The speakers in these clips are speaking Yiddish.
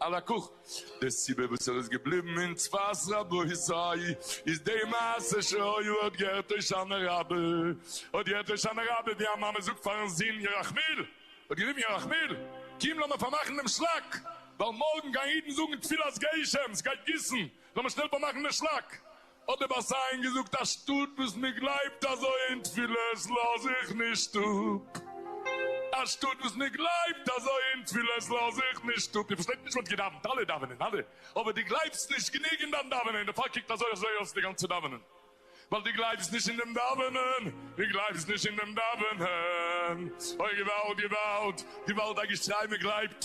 על הכּך, די סיבה וואָס ער איז געבליבן אין צפת רבותי איז די מעשה שהיה, האָט געהערט הושענא רבה, האָט געהערט הושענא רבה ווי אַ מאַמע זאָגט פאַרן זון ירחמיאל, האָט גערופן ירחמיאל, קום לאָמיר פאַרמאַכן דעם שלאַק, ווייל מאָרגן גייען אידן זאָגן תפילת גשם, ס'גייט גיסן, לאָמיר שנעל פאַרמאַכן דעם שלאַק, האט דער בת עין געזאגט א שטות וואס מען גלייבט אזוי אין תפילות לאז איך נישט אפ, א שטות וואס מען גלייבט אזוי אין תפילות לאז איך נישט אפ, איר פארשטייט נישט מען האט געדאווענט אלע דאווענען אלע אבער דו גלייבסט נישט גענוג אין דיין דאווענען דערפאר קוקט אזוי אזוי אויס די גאנצע דאווענען ווייל דו גלייבסט נישט אין דעם דאווענען דו גלייבסט נישט אין דעם דאווענען אוי געוואלד געוואלד געוואלד א געשריי מען גלייבט.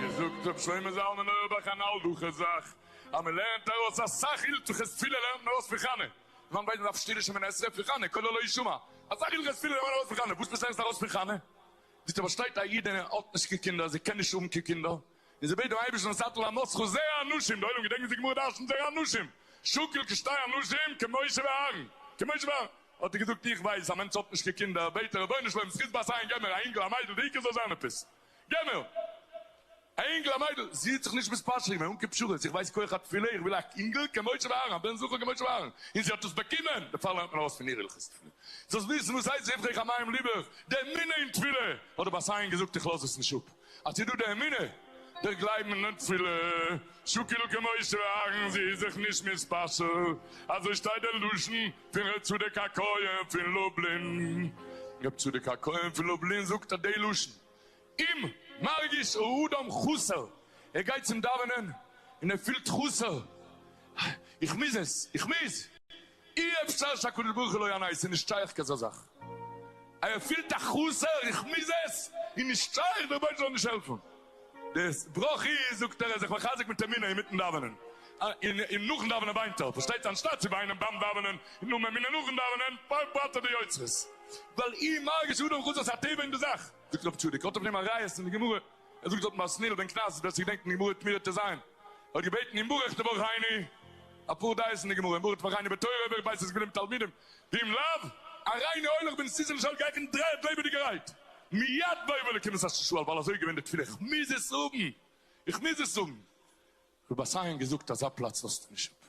געזאגט רבי שלמה זלמן אויערבאך אן אלדאכע זאך אז מען לערנט ארויס אסאך הילכות פילע לערנט מען ארויס פון חנה זיין בית דארף שטילע שמונה עשרה פון חנה קולו לא ישמע אסאך הילכות פילע לערנט מען ארויס פון חנה וואס נישט לערנסט ארויס פון חנה ביסטו פארשטייט א איד אין האט נישט קיין קינדער אז ער קען נישט האבן קיין קינדער. און זי בעט דעם אייבערשטן זאטל אנוסכו זרע אנשים, די עולם געדענקט וואס די גמרא דרשנ'ט זרע אנשים שוקל כשתי אנשים כמשה ואהרן, כמשה ואהרן, האט ער געזאגט איך ווייס א מענטש האט נישט קיין קינדער, בעט ער רבונו של עולם זכות בת עין געב מיר א אינגל א מיידל די עיקר זאל זיין עפעס, געב מיר א אינגל א מיידל, זי האט זיך נישט מספשר געווען אן קיין פשרות, איך ווייס כח התפילה איך וויל א אינגל כמשה ואהרן א בן זכר כמשה ואהרן, און זי האט עס באקומען, דערפאר לערנט מען ארויס פון איר הלכות תפילה, זאלסט וויסן וואס הייסט ריווחי כמים ליבך, די אמונה אין תפילה, האט די בת עין געזאגט איך לאז עס נישט אפ. אז ס'איז דא די אמונה, דער גלייבן און די תפילה, שוקל כמשה ואהרן זי איז זיך נישט מתפשר, אזוי שטייט דער לשון פון ר' צדוק הכהן פון לובלין, ר' צדוק הכהן פון לובלין זאגט אט די לשון, אם מרגיש האדם חסר, ער גייט צום דאווענען און ער פילט חסר, איך מוז עס, איך מוז, אי אפשר שהקדוש ברוך הוא לא יענה עס איז נישט שייך כזו זאך אז ער פילט א חוסר איך מוז עס איז נישט שייך דער באבעבער זאל נישט העלפן די בראך איז זאגט ער איז זיך מחזק מיט אמונה אינמיטן דאווענען און נאכן דאווענען וויינט ער פארשטייט זיך אנשטאט צו וויינען ביים דאווענען און האבן אמונה נאכן דאווענען פארברענט ער די יוצרות ווייל אי מרגיש אדם חוסר עס איז א טבע אין די זאך זאגט רב צדוק האט אויף דעם א ראיה אין די גמרא. ער זאגט אז מסניל בן קנז ווער ס'קען געדענקן די גמרא וועט מיר טו זיין האט געבעטן אין ברך תברכני אפאר דעות אין די גמרא אין ברך תברכני בתורה ווער ווייסט עס געווען אים תלמידים ואם לאו א ריינע הולך בן סיסי למשל גיי איך אין דריי האט לעבעדיגערהייט מיד בואו לקמות אשת שועל ווייל אזוי איז געווען די תפילה איך מוז עס האבן איך מוז עס האבן רבותיי אין געזאגט אזא פלאץ לאזט נישט אפ.